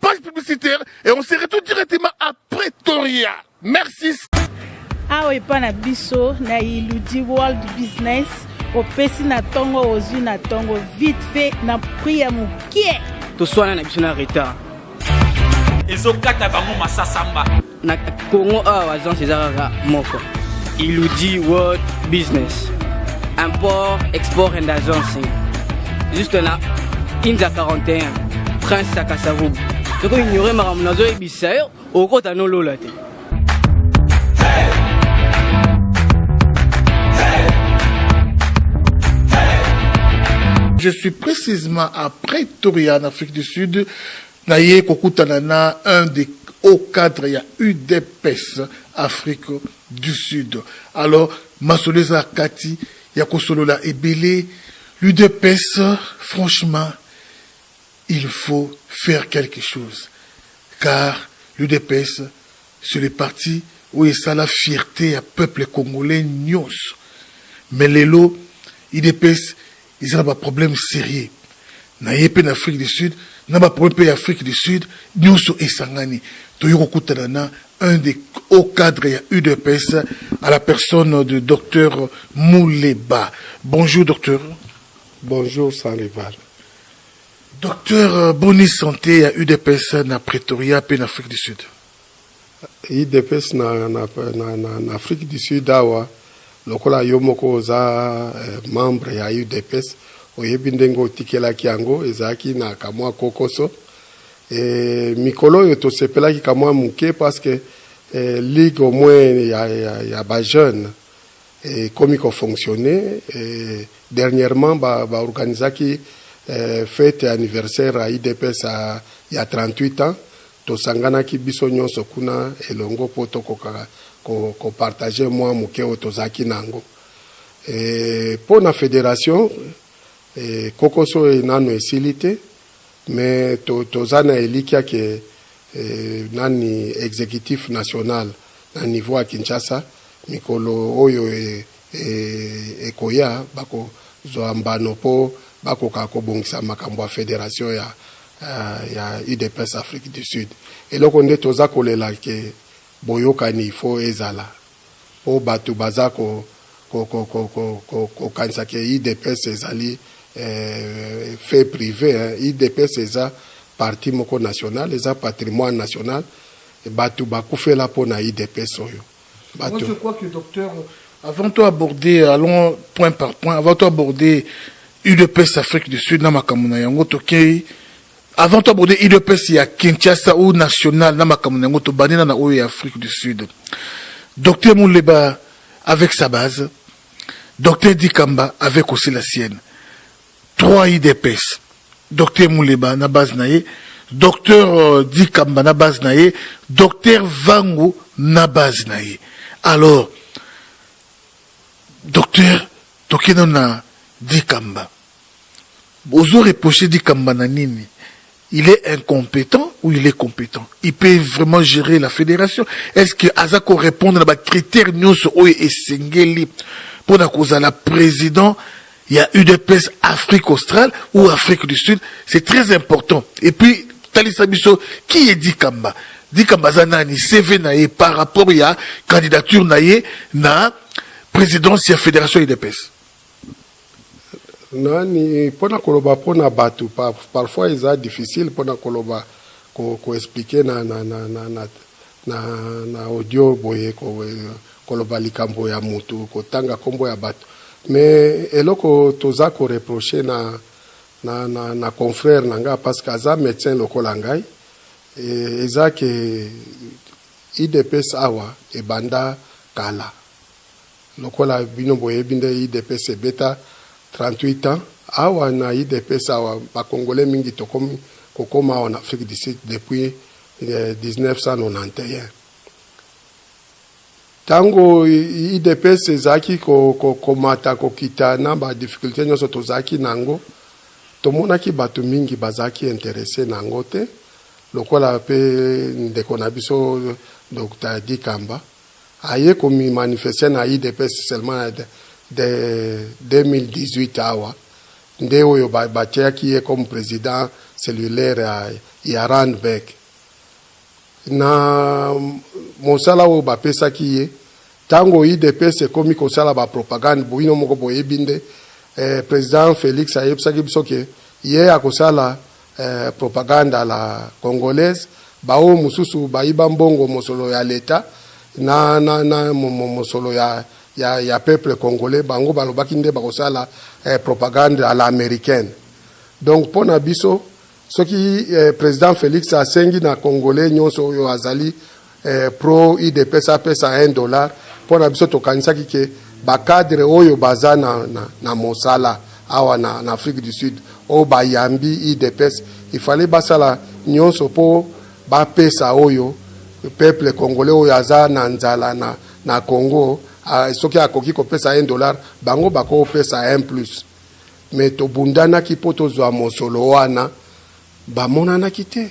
Page publicitaire et on se retrouve directement à Pretoria. Merci. awa epa na biso na iludi world business opesi na ntongo ozwi na ntongo vite fait na prix ya mokie toswana na biso na retard ezokata bango masasamba Na Congo awa agence eza kaka moko. Iludi World Business. Import, export and agencing. Juste na Inza 41, Prince Sakasavubu. Soko ignore makambo nazoyebisa yo, okota nolola te. Je suis précisément à Pretoria, en Afrique du Sud, Naye kokutana na un des hauts cadres ya udps Afrique du Sud. Alors, masolo eza kati ya kosolola ebele. L'udps, franchement, il faut faire quelque chose. Car l'udps, c'est le parti oyo esala fierte ya peuple congolais nyonso. Mais lelo, udps Eza na ba problèmes serieux na ye mpe na Afrique du Sud, na ba problèmes mpe ya Afrique du Sud, nionso esangani. Toye kokutana na un des hauts cadres ya udps à la personne de Docteur Muleba. Bonjour Docteur. Bonjour Sanrival. Docteur, euh, boni sante ya udps na Pretoria mpe na Afrique du Sud? Udps na, na, na, na, na Afrique du Sud awa lokola yo moko oza eh, membre ya UDPS oyebi ndenge otikelaki yango ezalaki na kamwa kokoso e, mikolo oyo tosepelaki kamwa moke parce que eh, ligue au moins ya, ya, ya bajeune ekomi eh, kofonctionne eh, dernièrement baorganisaki ba eh, fete anniversaire ya idps ya 38 ans Tosanganaki biso nyonso kuna elongo mpo tokoka kopartage mwa moke oyo tozalaki na yango. Mpo na federation, kokoso nanu esili te, mais toza na elikya que nani executif national na niveau ya Kinshasa, mikolo oyo ekoya, bakozwa mbano mpo bakoka kobongisa makambo ya federation ya uh, ya udps afrique du sud eloko nde toza kolela ke boyokani il faut ezala mpo bato baza ko kokanisa ke idps ezali eh, fait privé hein. idps eza parti moko national eza patrimoine national bato bakufela mpo na idps oyo Moi, je crois que docteur, avant toi aborder, allons point par point, avant toi aborder UDPS Afrique du Sud, Namakamuna na yango, tokei, avant toi aborder UDPS ya Kinshasa ou national, Namakamuna na yango, tobandina na oyo ya Afrique du Sud. Docteur Mouleba, avec sa base, docteur Dikamba, avec aussi la sienne. 3 udps docteur muleba na base na ye docteur euh, dikamba na base na ye docteur vangu na base na ye alors docteur toke nano na dikamba ozo reproche dikamba na nini Il est incompetent ou il est competent? Il peut vraiment gerer la federation? Est-ce que aza ko repondre na ba critères nionso oyo esengeli pona kozala president ya udps Afrique australe ou Afrique du Sud? C'est très important. Et puis talisa biso qui est Dikamba? Dikamba aza nani? CV na ye par rapport ya candidature na ye na présidence ya federation udps? Nani pona koloba pona batu parfois eza difficile pona koloba ko expliquer na na na na na na na audio boye koloba likambo ya mutu kotanga kombo ya batu mais eloko toza ko reprocher na na na na confrère na nga parce que aza medecin lokola ngai eza ke udps awa ebanda kala Lokola bino boyebi nde udps ebeta 38 ans awa na udps awa ba congolais mingi tokomi kokoma awa na afrique du sud depuis 1991 tango udps ezalaki kokomata ko, ko kokita na ba difficulté nyonso tozalaki na yango tomonaki bato mingi bazalaki interesse na yango te lokola mpe ndeko na biso dr dikamba aye ko mi manifester na udps seulement na 2018 awa nde oyo batiaki ye comme president cellulaire ya, ya Randburg na mosala oyo bapesaki ye ntango udps ekomi kosala bapropagande bino moko boyebi nde eh, president Felix ayebisaki biso ke ye akosala Eh propagande à la congolaise ba oyo mosusu bayiba mbongo mosolo ya leta na, na, na mosolo ya, ya, ya peuple congolais bango balobaki nde bakosala eh, propagande à la américaine donc mpo na biso soki eh, président Félix asengi na congolais nyonso oyo azali eh, pro idps apesa 1 dollar mpo na biso tokanisaki ke bacadre oyo baza na, na, na mosala awa na, na afrique du sud oyo bayambi idps ifale basala nyonso mpo bapesa oyo peuple congolais oyo aza na nzala na, na congo a, soki akoki kopesa 1 dollar bango bakopesa 1 plus me tobundanaki mpo tozwa mosolo wana bamonanaki te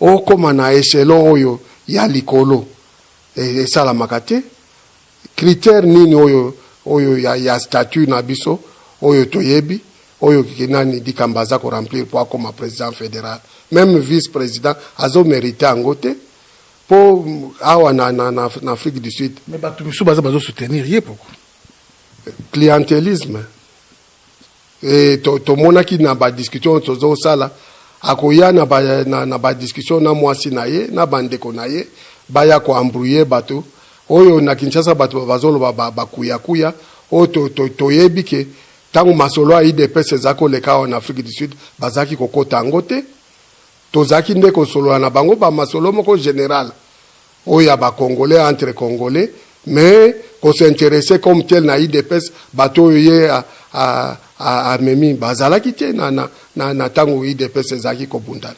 Okoma na echelon oyo ya likolo esalamaka te. Critere nini oyo oyo ya ya statut na biso oyo toyebi oyo nani Dikamba aza ko remplir mpo akoma president federal? Meme vice president azo merite yango te mpo awa na na na na Afrique du Sud. Mais batu misusu baza bazo soutenir ye pourquoi? Clientelisme. Eh, to, tomonaki na badiscussion oyo tozosala akoya na badiscussion na, na, na mwasi na ye na bandeko na ye baya koambrouye bato oyo na kinshasa bato bazoloba bakuyakuya oyo to, to, toyebi ke ntango masolo ya idps eza koleka awa na afrique du sud bazalaki kokota yango te tozalaki nde kosolola na bango bamasolo moko general oyo ya ba congolais entre congolais mais ko s'interesser comme tel na udps bato oyo ye a, a, a, amemi bazalaki te na, na, na, na tango udps ezalaki kobundana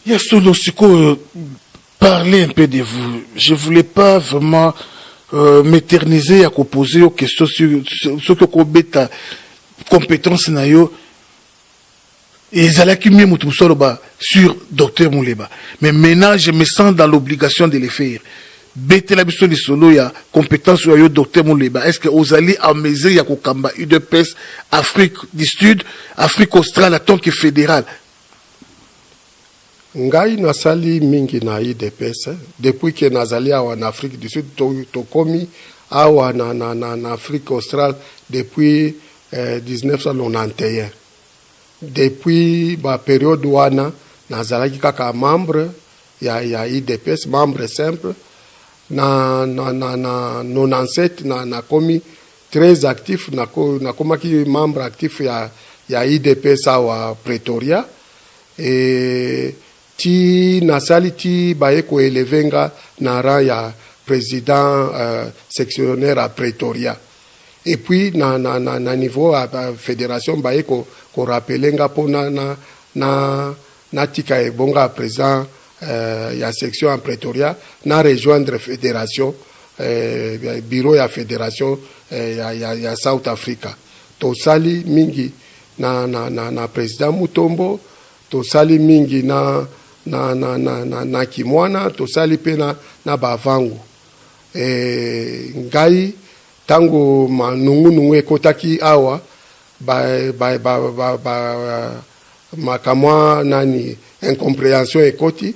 ya solo sikoyo parler un peu de vous je voulais pas vraiment euh, m'éterniser ya koposer yo question soki okobeta compétence na yo Ezalaki mieux mutu mosusu aloba sur Docteur Muleba mais maintenant je me sens dans l'obligation de le faire. Betela biso lisolo ya competence oyo ya yo Docteur Muleba, est-ce que ozali en mesure ya kokamba udps Afrique du Stud, Afrique Australe en tant que federal? Ngai nasali mingi na udps depuis que nazali awa na Afrique du Sud, tokomi awa na Afrique Australe depuis 1991. Depuis ba periode wana nazalaki kaka membre ya, ya udps, membre simple. Na, na, na, na 97 na, nakomi très actif, nakomaki membre actif ya, ya udps awa Pretoria. Et ti nasali ti baye ko eleve nga na rang ya president sectionnaire a pretoria et puis na na niveau ya federation baye ko rappeler nga po na na natika ebonga ya president ya section ya pretoria na rejoindre federation bureau ya federation ya south africa tosali mingi na na president mutombo Tosali mingi na, na, na, na, na, na kimwana, tosali mpe na, na bavangu. E, ngai, ntango manungunungu ekotaki awa, ba, ba, ba, ba, ba, makamwa nani incomprehension ekoti,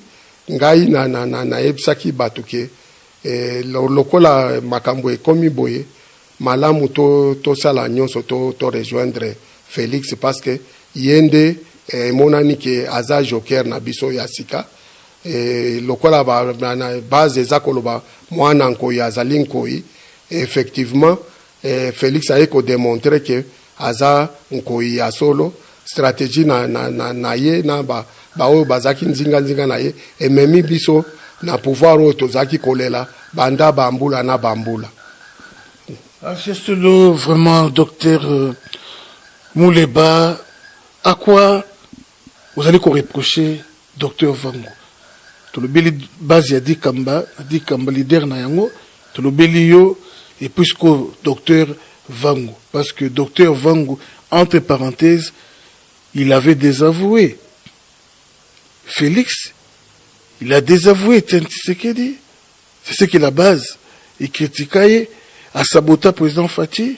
ngai na, na, na, nayebisaki bato ke e, lokola makambo ekomi boye, Malamu to tosala nionso to to rejoindre Felix parce que ye nde emonani ke aza joker na biso ya sika et lokola ba base eza koloba muana nkoyi azali nkoyi effectivement Felix aye ko demontrer ke Aza nkoyi ya solo strategie na, na, na, na ye na ba, ba oyo bazaki nzinga nzinga na ye ememi biso na pouvoir oyo tozalaki kolela banda bambula na bambula. Ah, vraiment docteur euh, Muleba à quoi Ozali ko reprocher Docteur Vangu. Tolobeli base ya Dikamba, na Dikamba leader na yango, tolobeli yo et puis sikoyo Docteur Vangu. Parce que Docteur Vangu, entre parenthèses, il avait desavoué Felix, il a desavoué Etienne Tshisekedi. C'est ce que la base, il critika ye, asabota President Fatshi.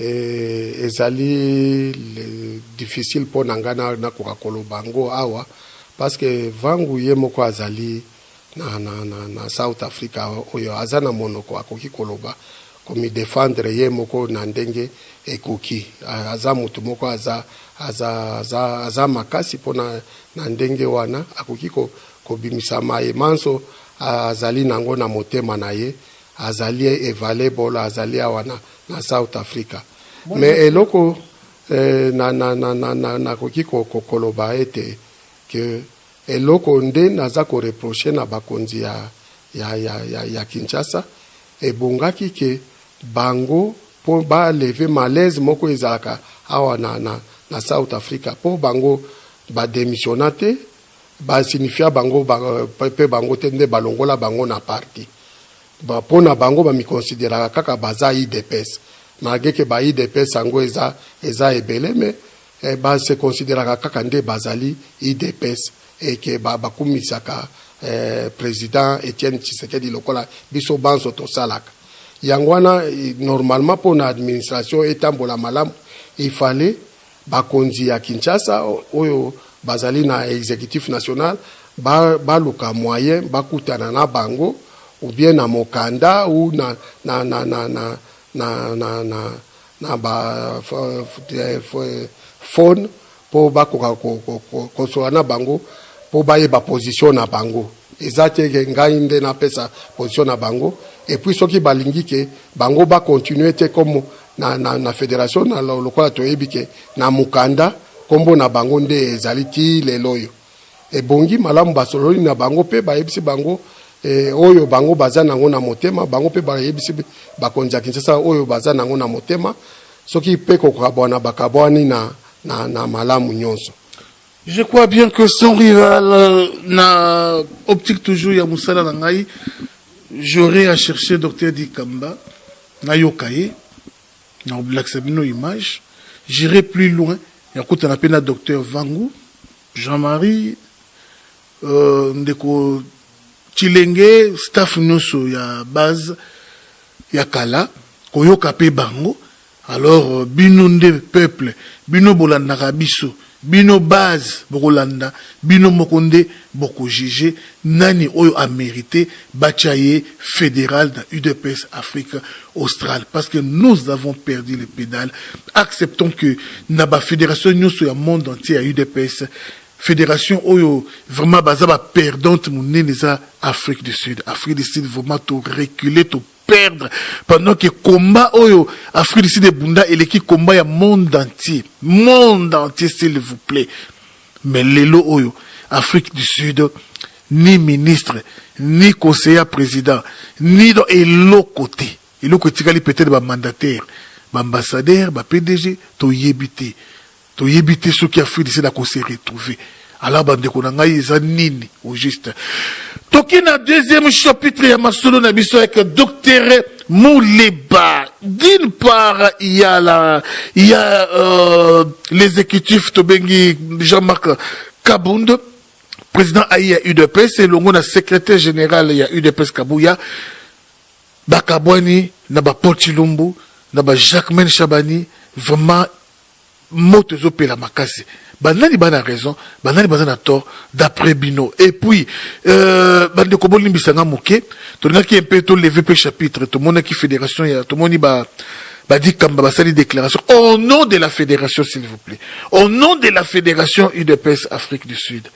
Ezali difficile mpo na ngai nakoka koloba yango awa parce que Vangu ye moko azali na South Africa oyo aza na monoko akoki koloba, ko mi defendre ye moko na ndenge ekoki. Aza mutu moko aza makasi mpo na ndenge wana akoki kobimisa maye manso azali na yango na motema na ye Azali evalable azali awa na, na South Africa. Me eloko eh, na, na, na, na, na, nakoki kokoloba ete ke eloko nde naza koreproche na bakonzi ya, ya, ya, ya, ya Kinshasa ebongaki ke bango mpo baleve malaise moko ezalaka awa na, na, na South Africa mpo bango bademisiona te ba signifia bango ba, pe bango te nde balongola bango na parti ba, po na bango bamikonsideraka kaka baza idps malgre ke ba idps yango eza, eza ebele me eh, ba se consideraka kaka nde bazali idps et ke ba, bakumisaka eh, president Etienne Tshisekedi lokola biso banso tosalaka yango wana eh, normalement po na administration etambola malamu il fallait Bakonzi ya Kinshasa oyo bazali na executif national baluka ba moyen bakutana na bango ou bien na mokanda ou na, na, na, na, na, na, na, na, na ba phone mpo bakoka kosola na bango mpo bayeba position na bango eza te ke ngai nde napesa position na bango epuis soki balingi ke bango bakontinue te comme na, na, na federation na lokola toyebi ke na mokanda nkombo na bango nde ezali ti lelo oyo ebongi malamu basololi na bango mpe bayebisi bango e, oyo bango baza nango na motema bango mpe bayebisi bakonzi ya kinshasa oyo baza nango na motema soki mpe kokabwana bakabwani na, na, na malamu nyonso Je crois bien que sans rival, euh, na optique toujours ya musala na ngai, j'aurais à chercher Dr Dikamba, na yokaye, na oblakisa bino image, j'irai plus loin, ya kuta na pena Dr Vangu, Jean-Marie, euh, ndeko Chilenge, staff nyoso ya base, ya kala, koyoka pe bango, Alors bino nde peuple bino bolandaka biso bino base bokolanda bino moko nde boko juge nani oyo a merite batia ye federal na udps afrique australe parce que nous avons perdu le pedale acceptons que na ba federation nioso ya monde entier ya udps Fédération Oyo, vraiment, baza ba perdante munene za Afrique du Sud. Afrique du Sud, vraiment, to reculer, to perdre pendant que combat oyo Afrique du Sud ebunda eleki combat ya monde entier monde entier s'il vous plaît mais lelo oyo Afrique du Sud ni ministre ni conseiller président ni dans eloko te eloko etikali peut-être ba mandataire ba ambassadeur ba PDG toyebi te Toyebi te soki afridisela ko se retrouver alors bandeko na ngai eza nini au juste toki na deuxième chapitre ya masolo na biso avec docteur Mouleba. D'une part, il y a, la, il y a euh, l'exécutif Tobengi Jean-Marc Kabund, président Aïe à UDPS, et l'ongo secrétaire général ya UDPS Kabouya, Bakabwani, Naba Potilumbu, Naba Jacquemin Chabani, vraiment moto ezo pela makasi ba nani ba na raison ba nani baza na tort d'après bino et puis euh, bandeko bolimbisa nga moke tolingaki mpe toleve mpe chapitre tomonaki fédération ya tomoni ba badi kamba basali déclaration au nom de la fédération s'il vous plaît au nom de la fédération udps afrique du sud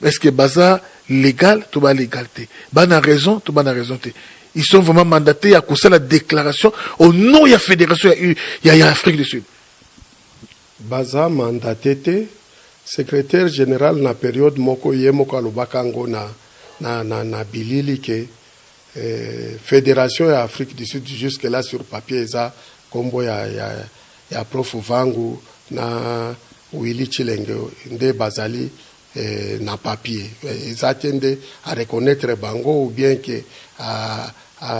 Est-ce que baza legal to ba legal te bana raison to bana raison te ils sont vraiment mandatés à cause la déclaration au nom de la fédération il y a Afrique du Sud baza mandaté te secrétaire général na période moko ye moko alobaka yango na, na, na, na bilili ke eh, fédération ya afrique du sud jusque là sur papier eza nkombo ya, ya, Ya prof vangu na willy tshilenge nde bazali eh, na papier eh, eza te nde a reconnaitre bango ou bien ke a, a,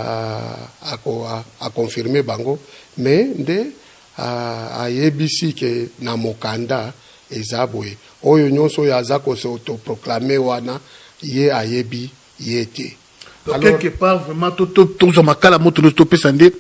a, a, a confirme bango mais nde ayebisi ke na mokanda eza boye oyo nyonso oyo aza kose autoproclame wana ye ayebi ye te quelque part vraiment tozwa makala moto nyonso topesa nde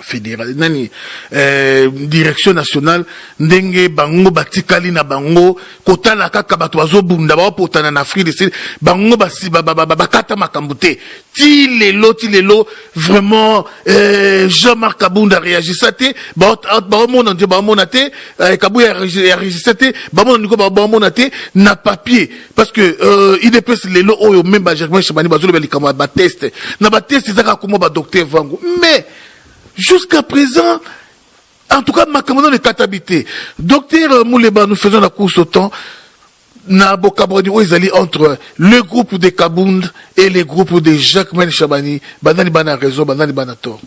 federal nani eh, direction nationale ndenge bango batikali na bango kotala kaka bato bazobunda baopotana na afrique du sud bango bakata makambo te ti lelo ti lelo vraiment eh, jean marc kabunda réagissa te baomona nde baomona te eh, kabuya réagissa te bamona niko baomona te na papier parce que euh, idps lelo oyo meme ba germain chemani bazoloba likambo ya bateste na bateste ezaka akoma badocteur vango mais jusqu'à présent en tout cas makambo nano ekatabi te docteur euh, muleba nous faisons la course au temps na bokabwani oyo ezali entre le groupe de kabund et le groupe de jacques mel chabani banani bana raison banani bana tort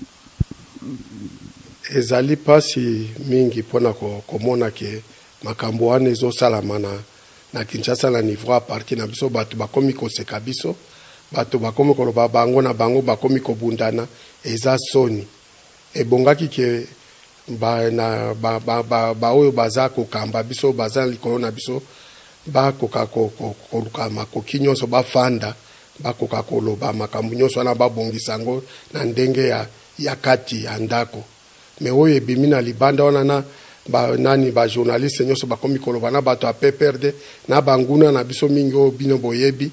ezali mpasi mingi mpo na komona ke makambo wana ezosalama na na Kinshasa na niveau ya parti na biso batu bakomi koseka biso batu bakomi koloba bango na bango bakomi kobundana eza soni ebongaki ke ba, na, ba, ba, ba, ba oyo baza kokamba biso baza likolo na biso bakoka koluka makoki nyonso bafanda bakoka koloba makambo nyonso wana babongisa yango na ndenge ya, ya kati ya ndako mais oyo ebimi na libanda wana na ba nani ba journaliste nyoso bakomi koloba na bato ya PPRD na banguna na biso mingi oyo bino boyebi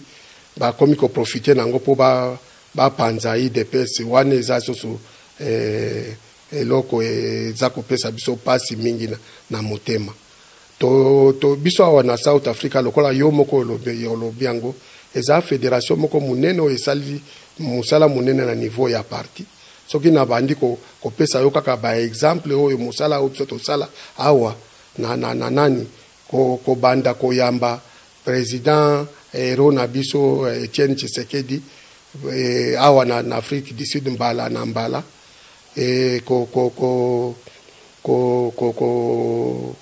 bakomi ko profiter na yango mpo ba bapanza udps wana eza susu eh, eloko eza kopesa biso pasi mingi na, na motema. To, to, biso awa na South Africa, lokola yo moko olobi, olobi yango, eza federation moko monene oyo esali mosala monene na niveau ya parti. Soki nabandi ko, kopesa yo kaka ba exemple oyo mosala oyo biso tosala awa na, na, na nani, ko, kobanda koyamba president hero na biso Etienne Tshisekedi eh, awa na, na Afrique du Sud mbala na mbala, Ee, ko, ko, ko, ko, ko, ko,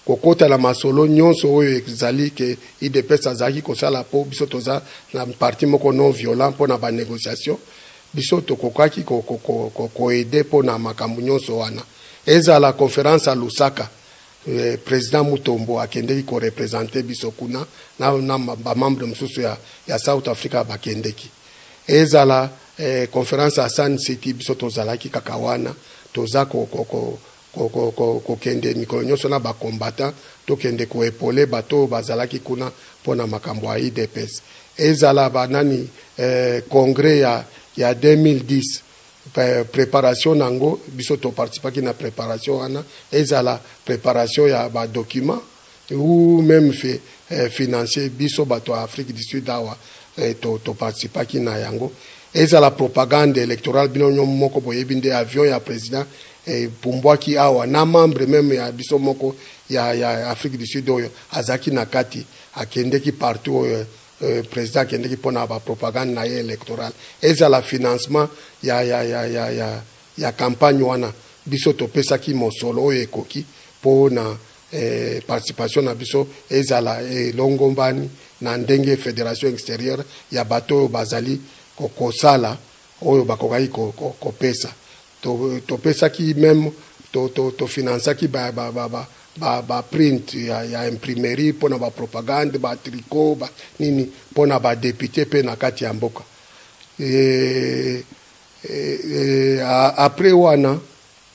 kokota na masolo nyonso oyo ezali ke idps azalaki kosala mpo biso toza na parti moko non violent mpo na banegociation biso tokokaki koede mpo na makambo nyonso wana ezala conference ya lusaka eh, president mutombo akendeki korepresente biso kuna na, na bamembre mosusu ya, ya south africa bakendeki Ezala eh, conference ya Sun City, biso tozalaki kaka wana, toza ko, ko, ko, ko, ko, ko, kokende mikolo nyonso na ba combattants, tokende ko epole bato oyo bazalaki kuna mpo na makambo ya IDPS. Ezala ba nani eh, congrès ya, ya 2010 preparation na yango biso toparticipaki na preparation wana ezala preparation ya badocument ou meme fi, eh, financier biso bato ya Afrique du Sud awa eh, to, to participaki na yango ezala propagande electorale bino nyo moko boyebi nde avion ya president epumbwaki eh, awa na membre meme ya biso moko ya, ya Afrique du Sud oyo azalaki na kati akendeki partout oyo eh, Euh, président akendeki mpo na bapropagande na ye électorale ezala financement ya, ya, ya, ya, ya, ya campagne wana biso topesaki mosolo oyo ekoki mpo na eh, participation na biso ezala elongombani eh, na ndenge federation extérieure ya bato oyo bazali kosala oyo bakokaki kopesa ko, ko topesaki to meme tofinansaki to, to ba, ba, ba, ba, ba, ba print ya, ya imprimerie mpo na bapropagande batricot ba, nini mpo na badepute mpe na kati ya mboka e, e, e, apres wana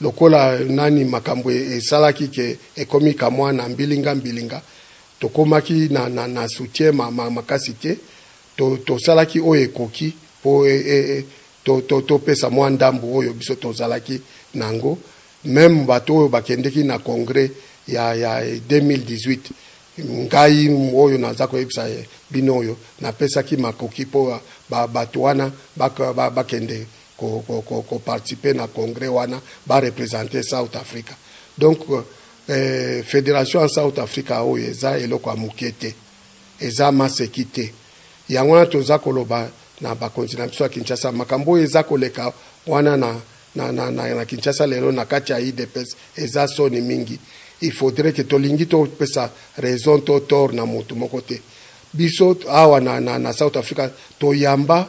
Lokola nani makambo esalaki que ekomi kamuana mbilinga mbilinga tokomaki na na na soutien ma ma makasi te to tosalaki oyo ekoki po e e to to topesa mua ndambu oyo biso tozalaki na yango meme bato oyo bakendeki na congrès ya ya 2018 ngai oyo naza koyebisa bino oyo napesaki makoki po ba bato wana ba bakende ko, ko, ko, ko participer na congrès wana ba representer South Africa donc eh, federation ya South Africa oyo eza eloko ya moke te eza maseki te yango wana toza koloba na bakonzi na biso ya Kinshasa makambo oyo eza koleka wana na, na, na, na, na Kinshasa lelo na kati ya IDPS eza soni mingi il faudrait que tolingi topesa raison to tort na motu moko te biso awa na, na, na South Africa toyamba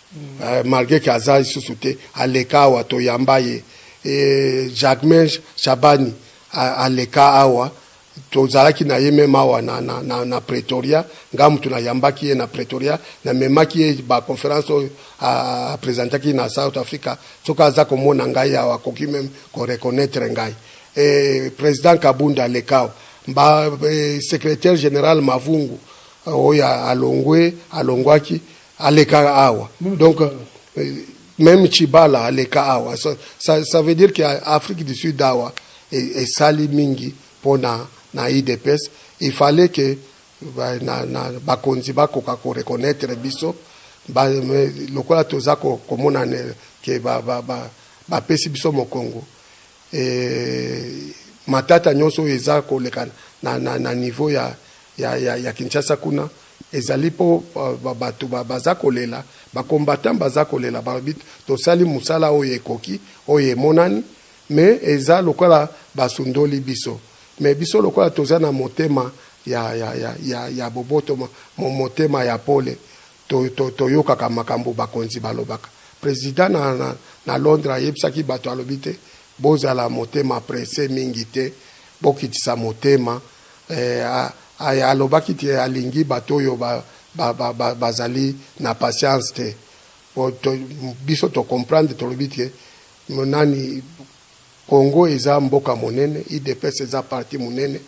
eh, malgre ke aza lisusu te aleka awa toyamba ye eh, jacmain shabani aleka awa tozalaki na ye meme awa na, na, na, na pretoria nga motu nayambaki ye na pretoria namemaki ye baconférence oyo apresentaki na south africa soki aza komona ngai awa akoki meme koreconnaitre ngai e, président kabunda alekao ba e, secrétaire général mavungu oyo alongwe alongwaki aleka awa donc meme chibala aleka awa ça, ça, ça veut dire que afrique du sud awa esali mingi mpo na, na idps il fallait que ba, na, na, bakonzi bakoka koreconnaitre biso ba, lokola toza komona ke bapesi ba, ba, ba biso mokongo Eeh matata nionso oyo eza koleka na, na, na niveau ya, ya, ya, ya Kinshasa kuna ezali mpo bato baza kolela, ba combattants baza kolela balobi tosali mosala oyo ekoki, oyo emonani mais eza lokola basundoli biso mais biso lokola toza na motema ya, ya, ya, ya, ya boboto, motema ya pole To, to, toyokaka makambo bakonzi balobaka. President na, na, na Londres ayebisaki bato, alobi te, Bozala motema presse mingi te, bokitisa motema. Eh, a, a, alobaki te alingi bato oyo ba, ba, ba, ba, bazali na patience te. Bo, to, biso to comprendre, tolobi te nani Congo eza mboka monene, udps eza parti monene,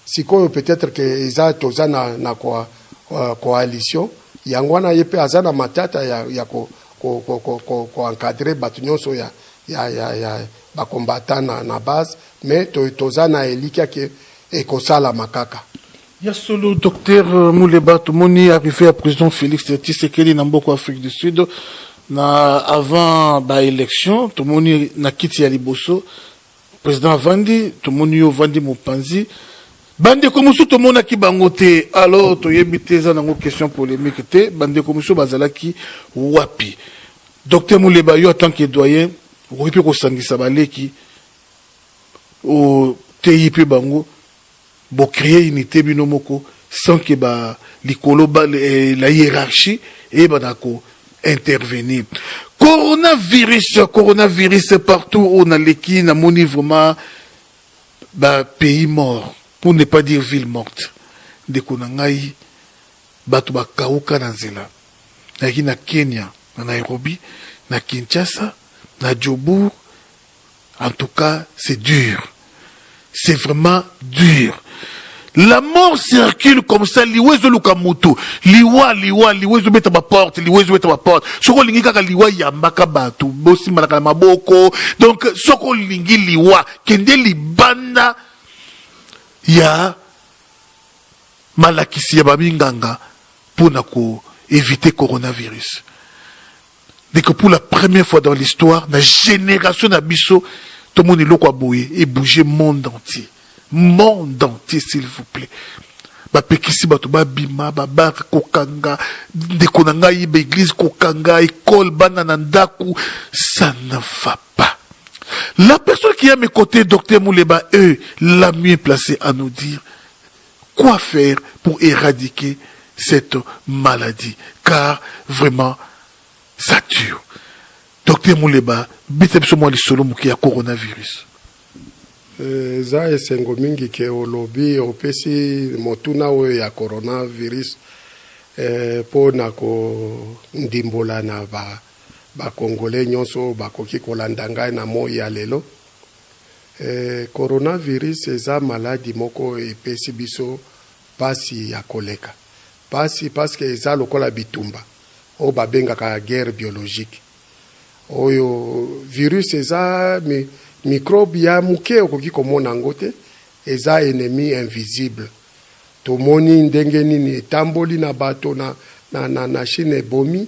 sikoyo peut etre que eza toza na, na ko, uh, coalition yango wana ye mpe aza na matata ya, ya ko, ko, ko, ko, ko, ko encadre bato nyonso ya, ya, ya, ya bakombata na, na base mais to, toza na elikia ke ekosalama kaka Ya solo Docteur Muleba tomoni arrive ya President Felix Tshisekedi na mboka Afrique du Sud na avant ba elections tomoni na kiti ya liboso President avandi tomoni yo ovandi mopanzi bandeko mosusu tomonaki bango te alors toyebi te eza nango question polemique te bandeko mosusu bazalaki wapi Docteur Muleba yo en tant que doyen okoki mpe kosangisa baleki oteyi mpe bango Bo cree unite bino moko sans que ba likolo ba la hierarchie eyebana ko intervenir. Corona virus corona virus partout oyo na leki na moni vraiment ba pays mort pour ne pas dire ville morte ndeko na ngai bato bakauka na nzela nayaki na Kenya na Nairobi na Kinshasa na Jobourg En tout cas, c'est dur. C'est vraiment dur. La mort circule comme ça, liwa ezoluka mutu. Liwa, liwa, liwa ezobeta ba porte, liwa ezobeta ba porte. Soko olingi kaka liwa yambaka batu, bosimbanaka na maboko. Donc soko olingi liwa, kende libanda ya malakisi ya baminganga mpo na ko éviter coronavirus. ndeko pour la première fois dans l'histoire na génération na biso tomoni eloko ya boye ebouge monde entier monde entier s'il vous plaît bapekisi bato babima babare kokanga ndeko na ngai yeba eglize kokanga ekole bana na ndako ça ne va pas la personne qui a mes côtés docteur muleba e la mieux placé à nous dire Quoi faire pour eradiquer cette maladie car vraiment ça tue Docteur Muleba beta biso mwa lisolo moke ya coronavirus. Eh, eza esengo mingi ke olobi opesi motuna oyo ya coronavirus eh, mpo na kondimbola na bakongole ba nyonso oyo bakoki kolanda ngai na moi ya lelo Eeh corona virus eza maladi moko epesi biso pasi ya koleka pasi pasque eza lokola bitumba oyo ba bengaka guerre biologique oyo virus eza microbe ya muke okoki komona yango te eza enemi invisible tomoni ndenge nini etamboli na bato na na chine ebomi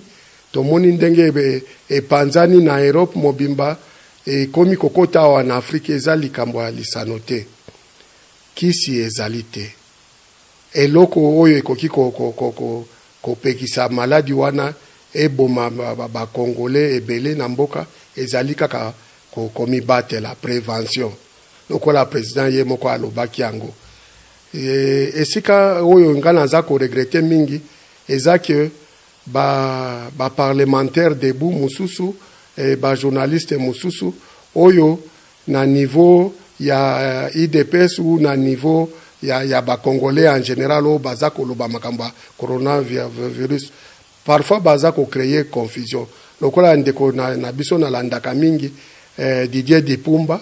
tomoni ndenge epanzani na Europe mobimba Ekomi kokota awa na Afrique eza likambo ya lisano te. Kisi ezali te. Eloko oyo ekoki kopekisa maladi wana eboma ba congolais ebele na mboka ezali kaka komibatela, prevention, lokola president ye moko alobaki yango. Esika oyo nga naza ko regretter mingi eza que ba ba parlementaires debout mosusu et ba journalistes mosusu oyo na niveau ya udps ou na niveau ya, ya ba congolais en general oyo baza koloba makambo ya coronavirus parfois baza ko créer confusion lokola ndeko na, na biso nalandaka mingi eh, Didier Dipumba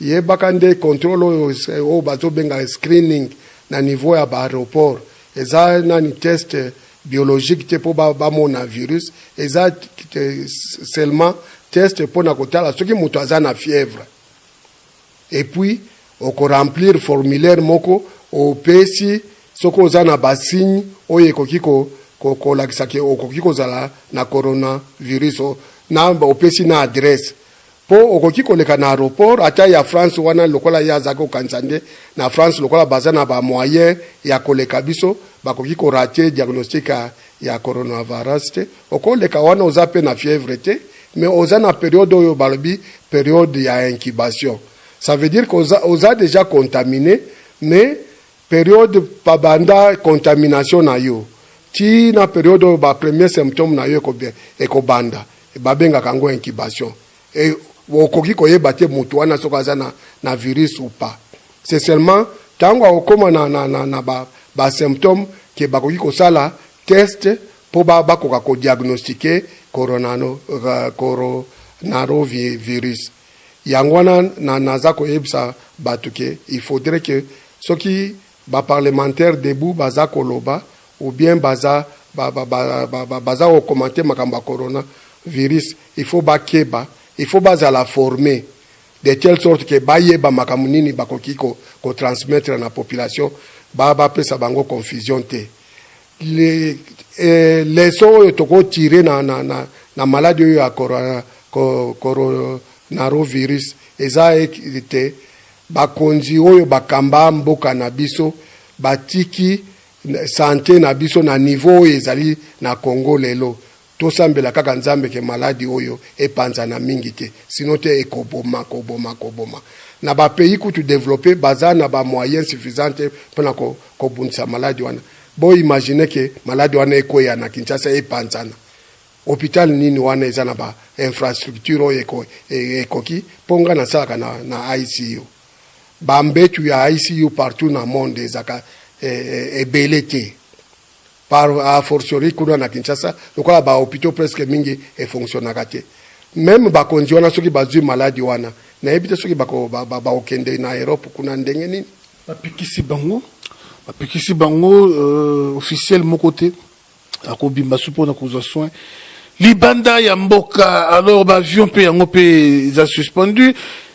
Yebaka nde controle oyo oyo bazo benga screening na niveau ya ba aeroport eza nani test biologique te po ba mona virus eza seulement test pona kotala soki mutu aza na fièvre et puis oko remplir formulaire moko opesi soki oza na ba signe oyo ekoki ko kolakisa ke okoki kozala na coronavirus na opesi na adresse Po okoki koleka na aeroport ata ya France wana lokola ye azalaki kokanisa nde na France lokola baza na ba moyen ya koleka biso bakoki ko rate diagnostic ya coronavirus te oko leka wana oza pe na fièvre te mais oza na periode oyo balobi periode ya incubation ça veut dire que oza dejà contamine mais Periode ba banda contamination na yo ti na periode oyo ba premier symptome na yo eko banda ba bengaka yango incubation et okoki ko yeba te mutu wana soki aza na na virus ou pas. C'est seulement tangu ako koma na na na na ba ba symptome que ba koki ko sala test po ba ba koka ko diagnostiquer coronano coronarovirus. Yango wana na naza koyebisa batu que il faudrait que soki ba parlementaires debout baza koloba ou bien baza ba ba ba ba ba baza ko commenter makambo ya corona virus il faut bakeba il faut bazala former de telle sorte que bayeba makambo nini bakoki ko ko transmettre na population ba bapesa bango confusion te. Leson oyo toko tire na na na na maladi oyo ya corona coronarovirus eza ete bakonzi oyo bakamba mboka na biso batiki sante na biso na niveau oyo ezali na Congo lelo Tosambela kaka nzambe ke maladi oyo epanzana mingi te sinon te ekoboma koboma koboma na ba pays kutu developpe baza na ba moyen suffisant te pona kobundisa maladi wana bo imagine ke maladi wana ekweya na Kinshasa epanzana hopital nini wana eza na ba infrastructure oyo eko, e, ekoki po nga nasalaka na, na ICU ba mbetu ya ICU partout na monde ezaka e, e, ebele te par a fortiori kuna na Kinshasa lokola ba hopitaux presque mingi e fonctionnaka te meme bakonzi wana soki bazwi maladi wana nayebi te soki bakokende na Europe kuna ndenge nini bapekisi bango bapekisi bango euh, officiel moko te akobimba su mpona kozwa soin libanda ya mboka alors baavion mpe yango mpe eza suspendu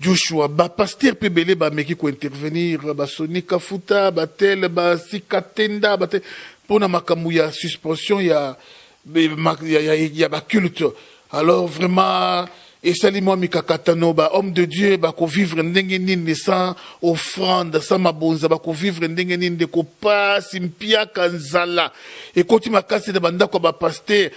Joshua ba pasteur pe ebele ba meki ko intervenir ba Sony Kafuta ba tel ba Sika Tenda ba tel pona makambo ya suspension ya ya, ya, ya ba culte alors vraiment esali mwa mikakatano ba homme de dieu bakovivre ndenge nini sans offrande sans mabonza bakovivre ndenge nini ndeko pasi mpiaka nzala ekoti makasi na bandako ya bapaster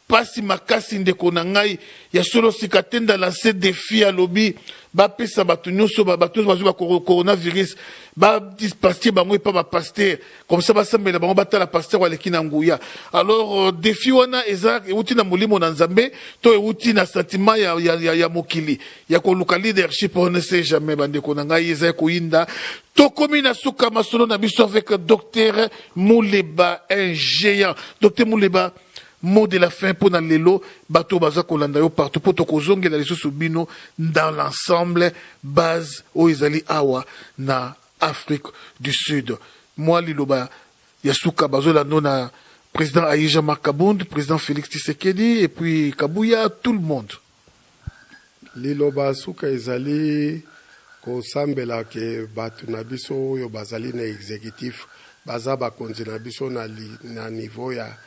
Pasi makasi ndeko na ngai ya solo sika tenda lance defi alobi bapesa bato nyonso bato nyonso bazwi bacoronavirus badispaste bango epa bapaster comme ça basambela bango batala paster aleki na nguya alors euh, defi wana eza euti na molimo na nzambe to euti na sentiment ya, ya, ya, ya mokili ya koluka leadership on ne sait jamais bandeko na ngai ezali koyinda tokomi na suka masolo na biso avec docteur muleba un géant docteur muleba mot de la fin mpo na lelo bato oyo baza kolanda yo partout mpo tokozongela lisusu bino dans l'ensemble base oyo ezali awa na afrique du sud mwa liloba ya suka bazolando na président aïe jean marc kabund président félix tshisekedi et puis kabuya tout le monde Liloba suka ezali kosambela que batu na biso oyo bazali na executif baza bakonzi na biso na niveau ya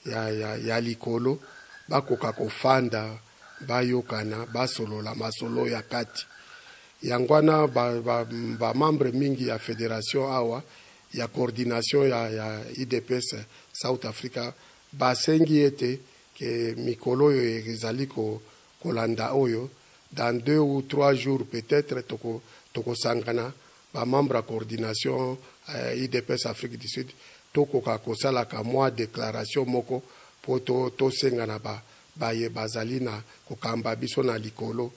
ya likolo bakoka kofanda bayokana basolola masolo ya kati yango wana ba membre mingi ya federation awa ya coordination ya udps south africa basengi ete que mikolo oyo ezali kolanda oyo dans deux ou trois jours peut etre toko tokosangana ba membres ya coordination udps Afrique du Sud tokoka kosalaka mua declaration moko po tosenga na ba baye bazali na kokamba biso na likolo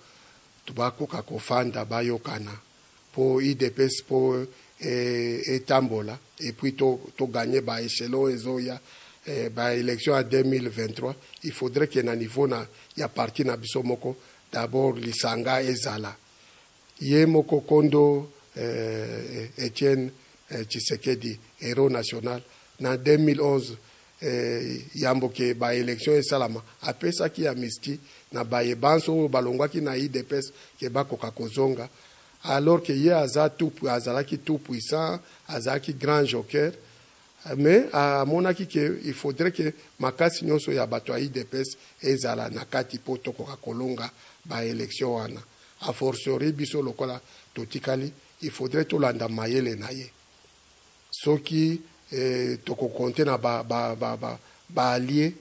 bakoka kofanda bayokana. po udps po etambola et puis to gagne ba echelons ezoya ba elections ya 2023 il faudrait que na niveau na ya parti na biso moko d'abord lisanga ezala ye moko kondo Etienne Tshisekedi hero national na 2011 yambo ke ba elections esalama, apesaki amnistie na baye banso oyo balongwaki na udps ke bakoka kozonga, alors ke ye aza tout, azalaki tout puissant, azalaki grand joker, mais amonaki ke il faudrait ke makasi nionso ya batu ya udps ezala na kati po tokoka kolonga ba elections wana, a fortiori biso lokola totikali, il faudrait tolanda mayele na ye. Soki toko compter na ba allies,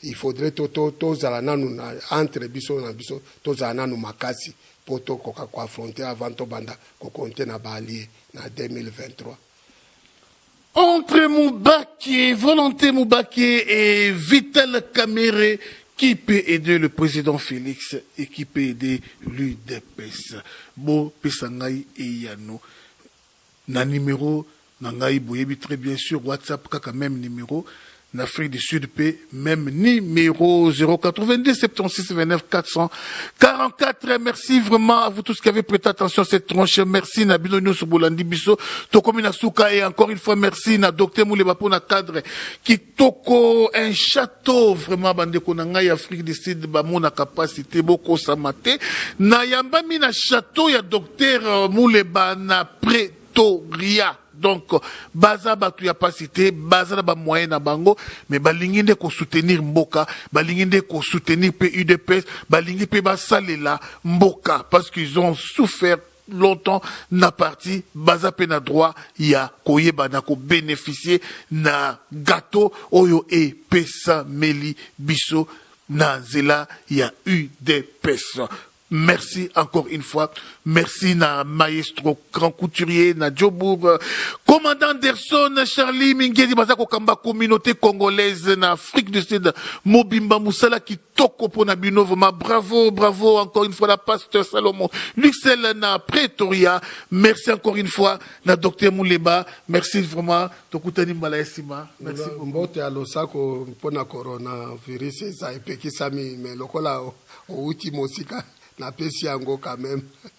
il faudrait tozala nanu entre biso na biso, tozala nanu makasi po tokoka ko affronter avant tobanda ko compter na ba allies na 2023. Entre Mubake, Volonte Mubake et Vital Kamerhe, qui peut aider le president Felix et qui peut aider l'udps? Bopesa ngai eyano. Na numero na ngai boyebi tres bien sur WhatsApp kaka meme numero na Afrique du Sud pe meme numero 082 76 29 444 merci vraiment à vous tous qui avez prêté attention à cette tranche merci na bino nyoso bolandi biso tokomi na suka et encore une fois merci na docteur Muleba pona cadre qui Toko un chateau vraiment bandeko na ngai Afrique du Sud bamonaka pasi te bokosama te nayambami na chateau ya docteur euh, Muleba na Pretoria donc baza bato ya pasi te baza na bamoyen na bango mais balingi nde kosoutenir mboka balingi nde kosoutenir mpe udps balingi mpe basalela mboka parce qu'ils ont souffert longtemps na parti baza pe na droit ya koyeba na kobeneficie na gateau oyo epesameli biso na nzela ya udps merci encore une fois merci na maestro grand couturier na jobourg commandant derson charlie mingeli baza kokamba communauté congolaise na afrique du sud mobimba mosala Toko pona bino vraiment bravo bravo encore une fois la pasteur Salomon Luxel na Pretoria merci encore une fois na docteur Muleba merci vraiment tokutani mbala ya sima merci beaucoup mbote ya losako mpona coronavirus eza epekisami mais lokola outi mosika napesi yango quand même